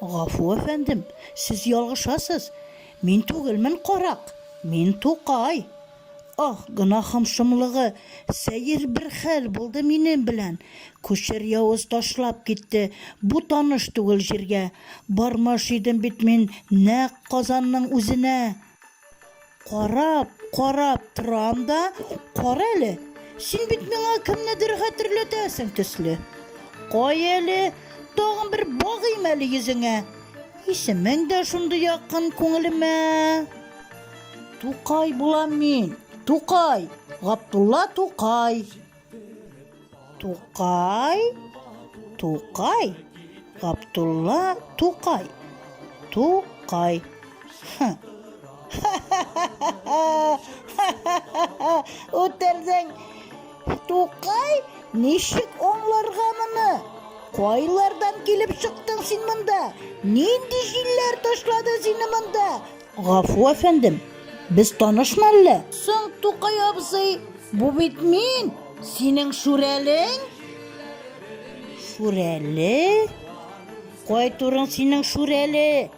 Гафу, әфәндем, сез ялгышасыз, мин түгелмен карак, мин Тукай. Аһ, гөнаһым шомлыгы, сәер бер хәл булды минем белән. Күчер явыз ташлап китте бу таныш түгел җиргә. Бармаш идем бит мин нәкъ Казанның үзенә. Карап, карап торам да, кара әле, син бит миңа кемнедер хәтерләтәсең төсле. Кая әле, тагын бер багыйм әле йөзеңә. Исемең дә шундый якын күңелемә. Тукай булам мин, Тукай, Габдулла Тукай. Тукай, Тукай, Габдулла Тукай. Тукай. Үтердең. Тукай, ничек аңларга моны? Кайлардан килеп чыктың син монда? Нинди җилләр ташлады сине монда? Гафу, әфәндем, без танышмы әллә? Соң, Тукай абзый, бу бит мин, синең Шүрәлең? Шүрәле? Кай турың синең Шүрәле?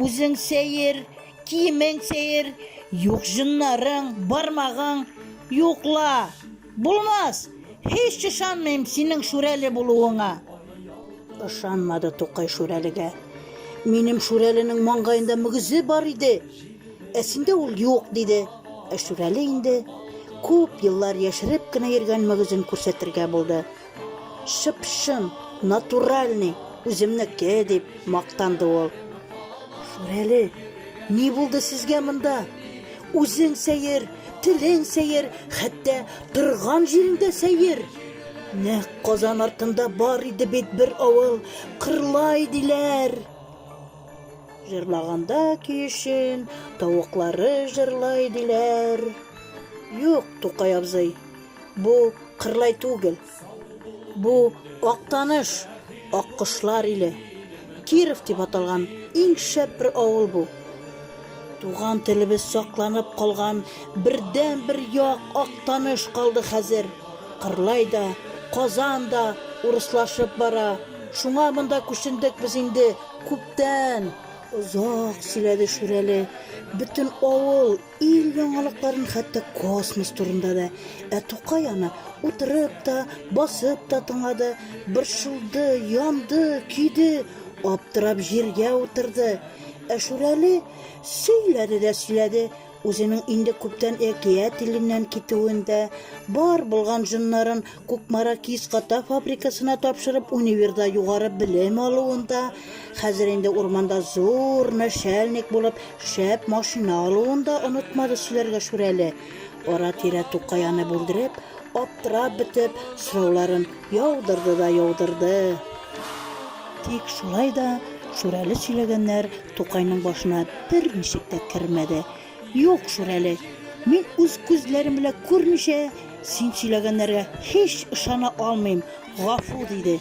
Үзең сәер, киемең сәер, юк җыннарың, бармагың, юкла! Булмас! Һич ышанмыйм синең Шүрәле булуыңа! Ышанмады Тукай Шүрәлегә. Минем Шүрәленең маңгаенда мөгезе бар иде, ә синдә ул юк, диде. Ә Шүрәле инде күп еллар яшереп кенә йөргән мөгезен күрсәтергә булды. Чып-чын, натуральный, үземнеке, дип мактанды ул. Шүрәле, ни булды сезгә монда? Үзең сәер, телең сәер, хәтта торган җиреңдә сәер. Нәк Казан артында бар иде бит бер авыл, Кырлай диләр. Җырлаганда көешен, тавыклары җырлай диләр. Юк, Тукай абзый, Бу Кырлай түгел. Бу Актаныш, аккошлар иле. Киров дип аталган иң шәп бер авыл бу. Туган телебез сакланып калган бердәнбер як Актаныш калды хәзер. Кырлай да, Казан да урыслашып бара. Шуңа монда күчендек без инде күптән. Озак сөйләде Шүрәле. Бөтен авыл. Ил яңалыкларын хәтта космос турында да. Ә Тукай аны утырып та, басып та тыңлады, борчылды, янды, көйде, аптырап җиргә утырды. Ә Шүрәле сөйләде дә сөйләде, үзенең инде күптән әкият иленнән китүен дә, бар булган җоннарын Кукмара кис-ката фабрикасына тапшырып, универда югары белем алуында, хәзер инде урманда зур начальник булып, шәп машина алуында онытмады сөйләргә Шүрәле. Ара-тирә Тукай аны бүлдереп, аптырап бетеп, сорауларын яудырды да яудырды. Тик шулай да Шүрәле сөйләгәннәр Тукайның башына берничек тә кермәде. Юк шул әле. Мин үз күзләрем белән күрмичә, син сөйләгәннәргә һич ышана алмыйм, гафу, диде.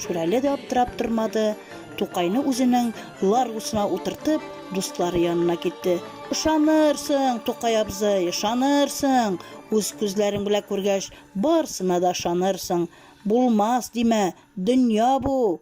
Шүрәле дә аптырап тормады, Тукайны үзенең ларгусына утыртып, дуслары янына китте. Ышанырсың, Тукай абзый, ышанырсың! Үз күзләрең белән күргәч, барсына да ышанырсың. Булмас димә, дөнья бу!